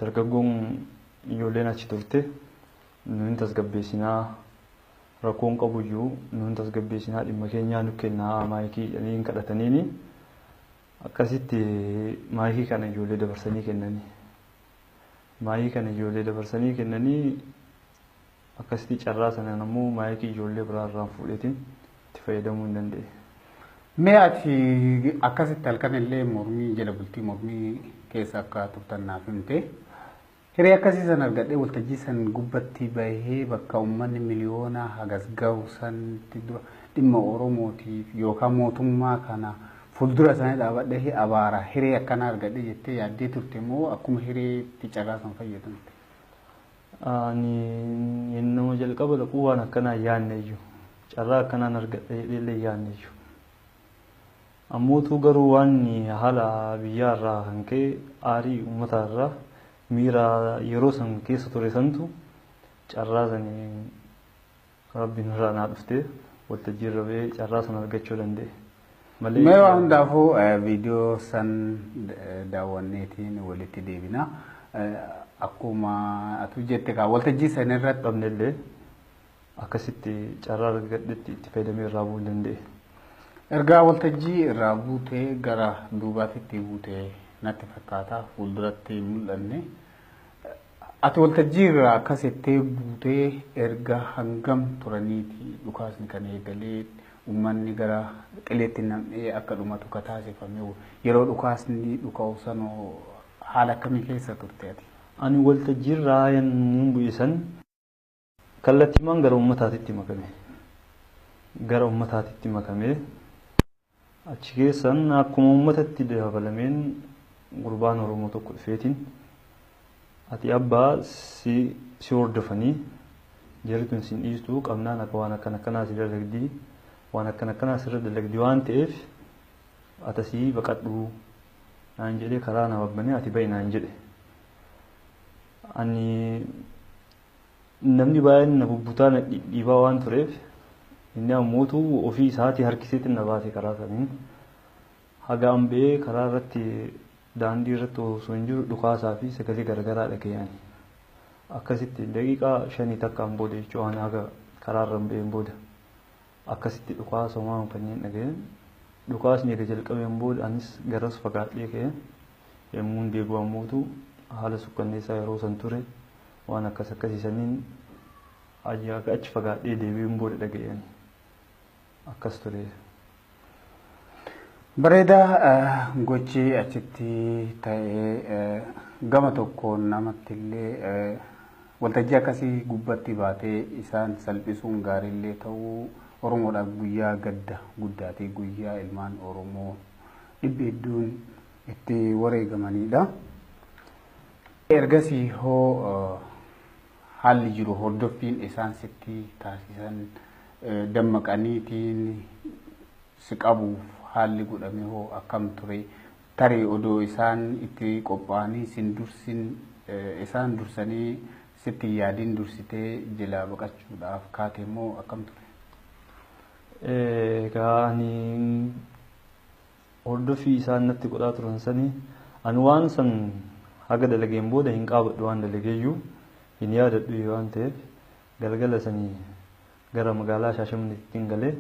dargaggoon ijoolleen achi turte nu hin tasgabbeessinaa rakkoon qabuyyuu nu hin tasgabbeessinaa dhimma keenyaa nu kennaa maayikii jedhanii hin kadhataniini Akkasitti maayikii kana ijoollee dabarsanii kennanii. Maayikii kana ijoollee dabarsanii kennanii akkasitti carraa sanaan ammoo maayikii ijoollee biraa irraan fuudheetiin itti fayyadamuu hin dandeenye. Mee ati akkasitti halkan illee mormii jala bultii mormii keessa akka turtan naaf himte. Hiree akkasii san argadhee waltajjii san gubbatti bahee bakka ummanni miliyoonaa hagas gahu sanitti dura dhimma Oromootiif yookaa mootummaa kana fuldura isaanii dhaabadhee abaara. Hiree akkanaa argadhe jettee yaaddee turte moo akkuma Hireetti carraa san fayyadamte? Ani yennuma jalqaba dhaqu waan akkanaa hin yaanneyyu. Carraa akkanaan argadha jedheellee hin yaanneyyu. Ammootuu garuu waan haala biyyaa irraa kan ka'e aarii uummataa irraa miira yeroo san keessa ture santu carraa saniin rabbiin irraan haa dhuftee waltajjii irra ba'ee carraa san argachuu danda'e. Malee Mee waan hundaafuu eh, viidiyoo san eh, daawwanneetiin walitti deebina. Eh, Akkuma atu jette kaa waltajjii san irratti dhabnellee Akkasitti carraa argadhetti itti fayyadamee irraa bu'uu hin danda'e. Ergaa waltajjii irraa buutee gara duubaatitti buute natti fakkaata fuulduratti hin mul'anne. Ati waltajjii irraa akkasitti buutee erga hangam turaniiti dhukaasni kan eegalee uummanni gara qileetti nam'ee akka dhumatu ka taasifame yeroo dhukaasni dhuka'u sanoo haala akkamii keessa turte ati? Ani waltajjii irraa yemmuu bu'e san Kallattiimaan gara ummataatitti makame. Gara ummataatitti makame. Achi keessan akkuma ummatatti dabalameen gurbaan Oromoo tokko dhufeetiin ati abbaa si si hordofanii jarri tun sin dhiistuu qabnaan akka waan akkan akkanaa si dalagdii waan akkan akkanaa sirra dalagdi waan ta'eef atasii baqadhuu naan jedhee karaa na babbane ati ba'i naan jedhe. Ani Namni baay'een na bubbutaa na dhidhiibaa waan tureef inni ammootu ofii isaatii harkiseetiin na baase karaa saniin. Haga an ba'ee karaa irratti daandii irratti osoo hin jiru dhukaasaa fi sagalee garagaraa dhaga'an. Akkasitti daqiiqaa shanii takkaan booda jechuudha ani haga karaa irra hin ba'een booda. Akkasitti dhukaasa homaa kanneen dhaga'een dhukaasni erga jalqabeen booda anis garas fagaadhee ka'e. Yemmuun deebi'u ammootu haala sukkanneessaa yeroo san ture waan akkas akkasii saniin erga achi fagaadhee deebi'een booda dhaga'een akkas ture. Bareedaa gochi achitti ta'e gama tokkoon namattillee Waltajjii akkasii gubbatti baatee isaan salphisuun gaariillee ta'uu Oromoodhaaf guyyaa gadda guddaati, guyyaa ilmaan Oromoo dhibbi hedduun itti wareegamaniidha. Ergasii hoo haalli jiru hordoffiin isaan sitti taasisan dammaqaniitiin si qabuuf haalli godhame hoo akkam ture? Tarii odoo isaan itti qophaa'anii sin dursin isaan dursanii sitti hin yaadin dursitee jelaa baqachuudhaaf kaate moo akkam ture? Egaa ani hordoffii isaan natti godhaa turan sanii ani waan san haga dalageen booda hin qaabadhu waan dalageeyyuu hin yaadadhu waan ta'eef galgala sanii gara magaalaa Shaashamanneettiin galee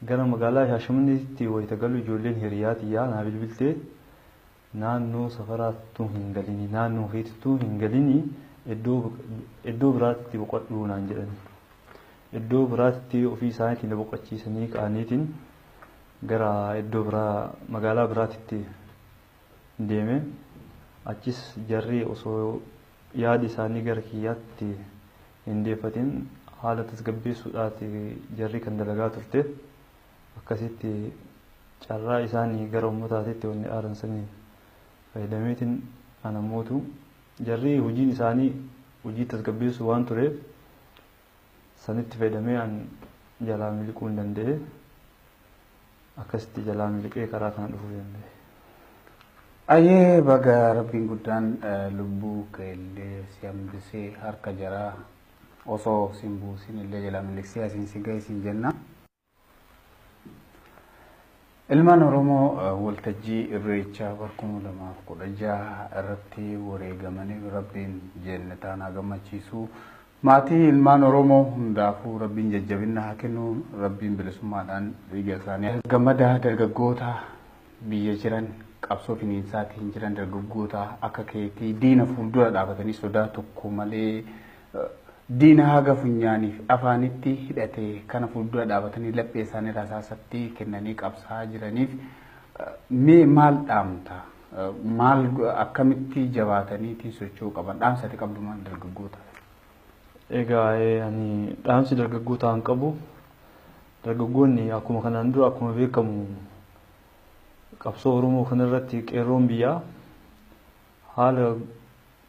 Gara magaalaa Shaashamanneetti wayita galu ijoolleen hiriyaa tiyyaa naa bilbilte naannoo safaraa ttuu hin galini naannoo keetittuu hin galini iddoo biraatitti boqadhu naan jedhani. Iddoo biraatitti ofii isaaniitiin na boqachiisanii ka'aniitiin gara iddoo biraa magaalaa biraatitti deeme achis jarri osoo Yaada isaanii gara kiyyaatti hin deeffatin haala tasgabbeessuudhaati jarri kan dalagaa turte. Akkasitti carraa isaani gara ummataatitti wanni aaran sanii fayyadameetin an ammootu jarri hujiin isaanii hujii tasgabbeessuu waan tureef, Sanitti fayyadamee an jalaa miliquun danda'e. Akkasitti jalaa miliqee karaa kana dhufuu danda'e. Ayyee baga rabbiin guddaan eh, lubbuu keellee si hambisee harka jaraa osoo sin buusin illee jalaa miliqsee asiin si ga'e siin jenna. Ilmaan Oromoo waltajjii Irreechaa bara kuma lamaaf kudha jaha irratti wareegamaniif Rabbiin jeennataan haa gammachiisu. Maatii ilmaan Oromoo hundaafuu Rabbiin jajjabinna haa kennu. Rabbiin bilisummaadhaan dhiiga isaanii gammadaa dargaggoota biyya jiran qabsoo finiinsaatiin jiran dargaggoota akka keetii diina fuuldura dhaabatanii sodaa tokko malee Diina haga funyaanii fi afaanitti hidhate kana fuuldura dhaabatanii laphee isaanii rasaasatti kennanii qabsaa'aa jiraniif mee maal dhaamta? Maal akkamitti jabaataniitiin socho'uu qaban? Dhaamsa ati qabdu maal dargaggootaaf? Egaa ani dhaamsi dargaggootaan qabu dargaggoonni akkuma kanaan dura akkuma beekamu qabsoo Oromoo kanarratti qeerroon biyyaa haala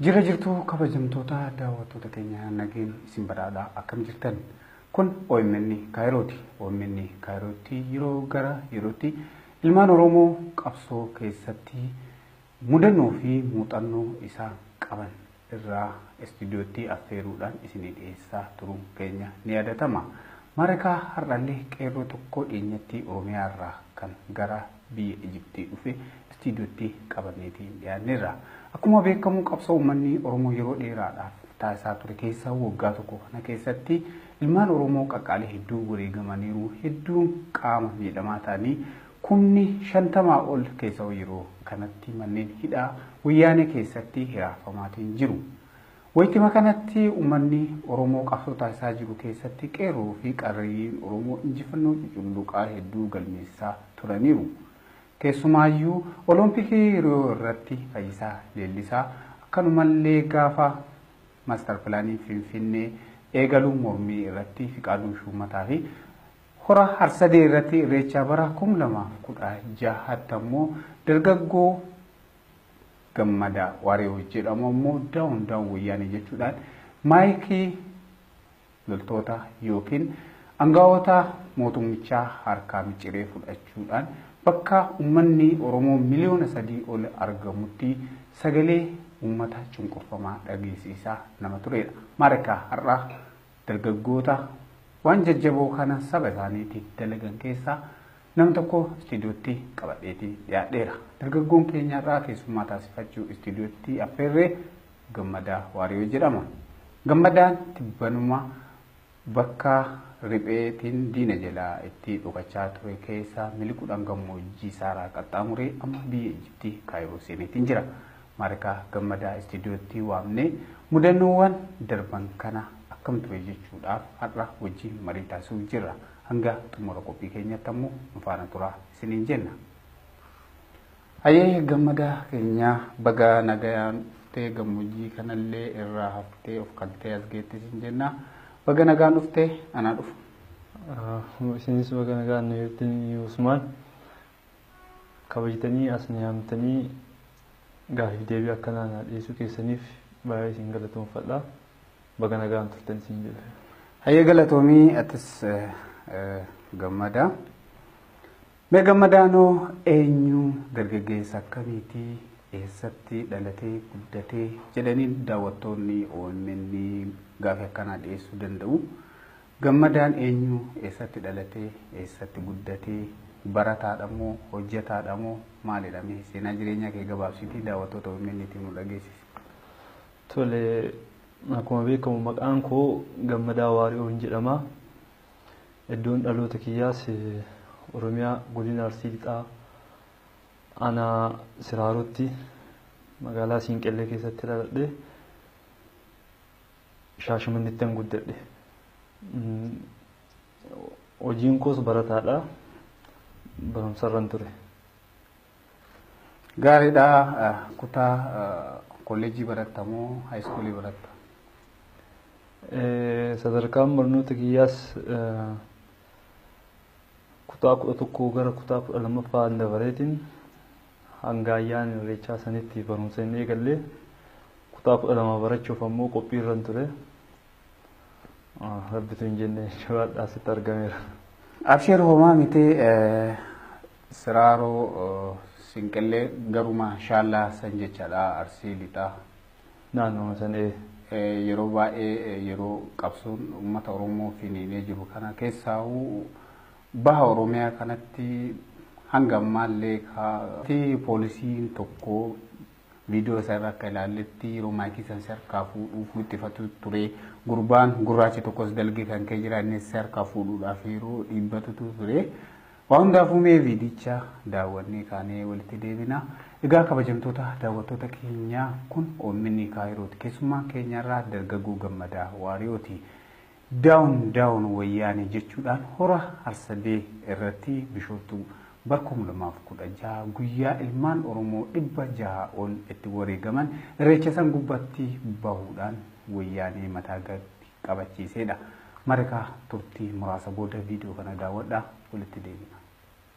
Jira jirtuu kabajamtoota daawwattoota keenya nageen isin badhaadha akkam jirtan kun OMN Kaayirooti OMN Kaayirootti yeroo gara yerootti ilmaan Oromoo qabsoo keessatti Mudannoo fi muuxannoo isaan qaban irraa istiidiyoottii affeeruudhaan isinii dhiyeessaa turuun keenya ni yaadatama. Marekaa har'allee qeerroo tokkoo dhiyeenyattii Oromiyaa irraa kan gara biyya Ijiptii dhufe istiidiyoottii qabanneetiin dhiyaanneerra. Akkuma beekamu qabsoo ummanni Oromoo yeroo dheeraadhaaf taasisaa ture keessa waggaa tokko kana keessatti ilmaan Oromoo qaqqaalii hedduu wareegamaniiru, hedduun qaama miidhamaa ta'anii Kumni shantamaa ol keessau yeroo kanatti manneen hidhaa Wayyaanee keessatti hiraarfamaatiin jiru. Waytima kanatti ummanni Oromoo qabsoo taasisaa jiru keessatti qeerroo fi qarreeyyiin Oromoo injifannoo cuculluqaa hedduu galmeessisaa turaniiru. Keessumaayyuu Olompikii Riyoo irratti Fayyisaa Leellisaa akkanumallee gaafa Master Pilaaniin Finfinnee eegalu mormii irratti Fiqaaduu Shuummataa fi Hora Harsadee irratti Irreechaa bara 2016tti ammoo dargaggoo Gammadaa Waariyoo jedhamu ammoo daawun daawun wayyaanee jechuudhaan maayikii loltoota yookiin angaa'ota mootummichaa harkaa miciree fudhachuudhaan bakka ummanni Oromoo miliyoona sadii ol argamutti sagalee ummata cunqurfamaa dhageessisaa nama turedha. Maarikaa har'aa Dargaggoota waan jajjaboo kana saba isaaniitiif dalagan keessaa nam tokko istiidiyootti qabadheeti dhiyaadheera. Dargaggoon keenya har'aa keessummaa taasifachuu istiidiyootti affeerree Gammadaa Waariyoo jedhama. Gammadaan tibbanuma bakka ripheetiin diina jalaa itti dhokachaa ture keessa miliquudhaan gammoojjii Saaraa qaxxaamuree amma biyya Ijiptii Kaayiroo seeneetiin jira. Maarikaa Gammadaa istiidiyootti waamnee mudannoowwan darban kana akkam ture jechuudhaaf har'a wajjin marii taasisuuf jirra. Hanga xumura qophii keenyatti ammoo nu faana turaa isiniin jenna. Hayyee Gammadaa keenya baga nagayaan dhuftee gammoojjii kanallee irraa haftee of kaltee as geetti isin jenna. Baga nagaan dhuftee anaa dhufu. Isinis baga nagaan nu eegdanii Usmaan. kabajtanii as na yaamtanii gaaffiif deebii akkanaa naa dhiyeessuu keessaniif baay'ee isin galatoomfadha. Baga nagaan turtan isin jedha. Hayyee galatoomii atis gammadaa. Mee gammadaanoo eenyu dargaggeessa akkamiiti eessatti dhalatee guddatee jedhanii daawwattoonni OMN gaafii akkanaa dhiyeessuu danda'u. Gammadaan eenyu? Eessatti dhalate? Eessatti guddate? Barataadha moo? Hojjataadha moo? Maalidha mee? Seenaa jireenyaa kee gabaabsitii daawwattoota omn tiif nu dhageessisi. Tole, akkuma beekamu maqaan koo Gammadaa Waari'oon jedhama. Iddoon dhaloota kiyyaas Oromiyaa godina Arsii Lixaa aanaa Siraarootti magaalaa Siinqellee keessatti dhaladhe. Shaashamannettan guddadhe. Hojiin koos barataadha. Barumsarran ture. Gaariidha. Kutaa kolleejjii baratta moo haayiskuulii baratta? Sadarkaan barnoota kiyyaas kutaa kudha tokkoo gara kutaa kudha lammaffaa dabareetiin hanga ayyaana irreechaa sanitti barumsa hin eegalle. Kutaa 12 barachuuf ammoo qophiirran ture. Rabbitu hin jenne jechuudha asitti argameera. Absheer homaa miti siraaroo sinqillee garuma shaallaa san jechaadha arsii lixaa. Naannoo san ee. Yeroo baay'ee yeroo qabsoon uummata Oromoo finiinee jiru kana keessaahuu baha Oromiyaa kanatti hanga ammaallee kaa'atii poolisiin tokko Viidiyoo isaa irra akka ilaalletti yeroo maayikii san si harkaa fuudhuuf wixxifatu ture. Gurbaan gurraachi tokkos dalgee kan ka'e jira innis si harkaa fuudhuudhaaf yeroo dhiibbatutu ture. Waa hundaafuu mee viidicha daawwannee kaanee walitti deebina. Egaa kabajamtoota daawwattoota keenyaa kun OMN Kaayirooti. Keessummaan keenyarraa dargaggoo gammadaa waariyooti. Down down wayyaanee jechuudhaan hora Harsadee irratti Bishooftuu bara 2016 guyyaa ilmaan Oromoo 600 ol itti wareegaman irreecha san gubbatti bahuudhaan wayyaanee mataa gad qabachiiseedha. Marika turtii muraasa booda viidiyoo kana daawwadhaa walitti deebina.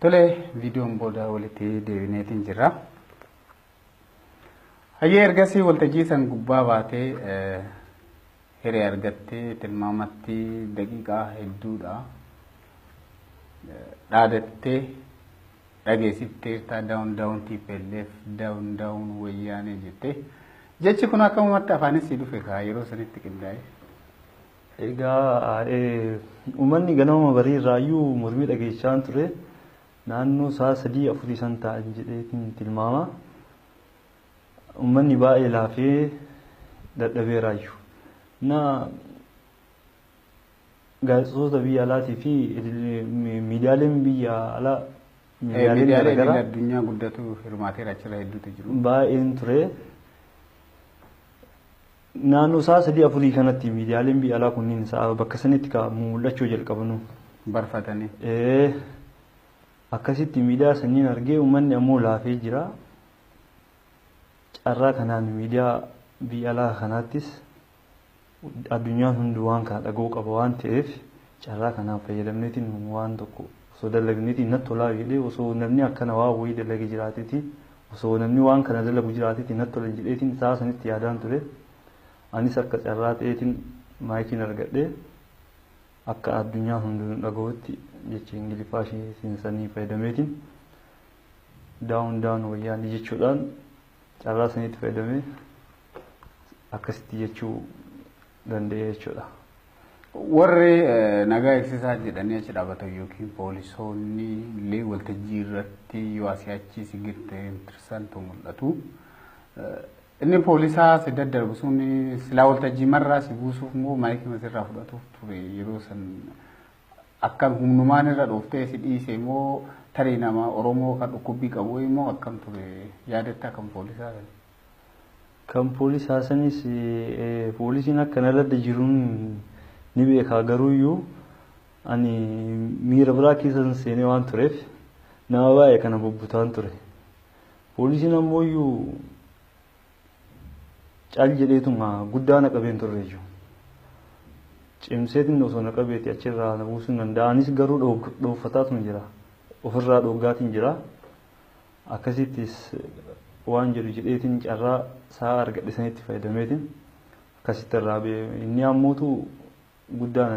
Tole viidiyoon booda walitti deebineetiin jirra. Hayyee ergasii waltajjii san gubbaa baatee Hiree argattee tilmaamatti daqiiqaa hedduudha. Dhaadattee dhageessifteertaa daawun daawun TPLF daawun daawun wayyaanee jettee. Jechi kun akkamumatti afaanis si dhufe kaa yeroo sanitti qindaa'e. Egaa eh, uummanni ganama barii irraayyuu mormii dhageessisaan ture. Naannoo sa'a sadii afurii san ta'an jedheetiin tilmaama. Ummanni baay'ee laafee dadhabeeraayyu. Na gaazexoota biyya alaatii fi miidiyaaleen biyya alaa miidiyaaleen garaagaraa addunyaa guddatu hirmaateera achirra hedduutu jiru. Baay'een ture. Naannoo sa'a sadii afurii kanatti miidiyaaleen biyya alaa kunniin sa'a bakka sanitti ka mul'achuu jalqabanu. Barfatanii. Akkasitti miidiyaa sanniin argee uummanni ammoo laafee jira. Carraa kanaan miidiyaa biyya alaa kanaattis addunyaan hunduu waan kana dhaga'uu qaba waan ta'eef carraa kanaan fayyadamneetiin waan tokko osoo dalagneetiin natti tolaa jedhee osoo namni akkana waa wayii dalage jiraateetiin osoo namni waan kana dalagu jiraateetiin natti tolan jedheetiin isaa sanitti yaadaan ture. Anis akka carraa ta'eetiin maayikiin argadhee akka addunyaa hunduu nu dhaga'utti jecha Ingiliffaa ishee sanii fayyadameetiin down down wayyaanee jechuudhaan carraa saniitti fayyadamee akkasitti jechuu danda'e jechuudha. Warri eh, nagaa eegsisaa jedhanii achi dhaabatan yookiin poolisoonni illee waltajjii irratti yoo asii achi si girte intirsantu mul'atu. Eh, Inni poolisaa si daddarbu sun silaa waltajjii marraa si buusuuf moo maayikii masirraa fudhatuuf ture yeroo san Akkam humnumaan irra dhooftee si dhiisee moo tarii nama Oromoo kan dhukkubbii qabu wayii moo akkam ture yaadattaa kan poolisaa sana? Kan poolisaa sanis poolisiin akka na ladda jiruun ni beekaa garuuyyuu ani miira biraa keessan seenee waan tureef nama baay'ee kana bubbutaan ture. Poolisiin ammooyyuu Cal jedheetuma guddaa na qabeen turreeyyu. Cimseetiin osoo na qabeeti achirraa na buusuu hin danda'a. Anis garuu dhoofataatuma jira. Ofirraa dhooggaatiin jira. Akkasittis waan jedhu jedheetiin carraa sa'a argadhe sanitti fayyadameetiin akkasitti irraa ba'e. Inni ammootu guddaa na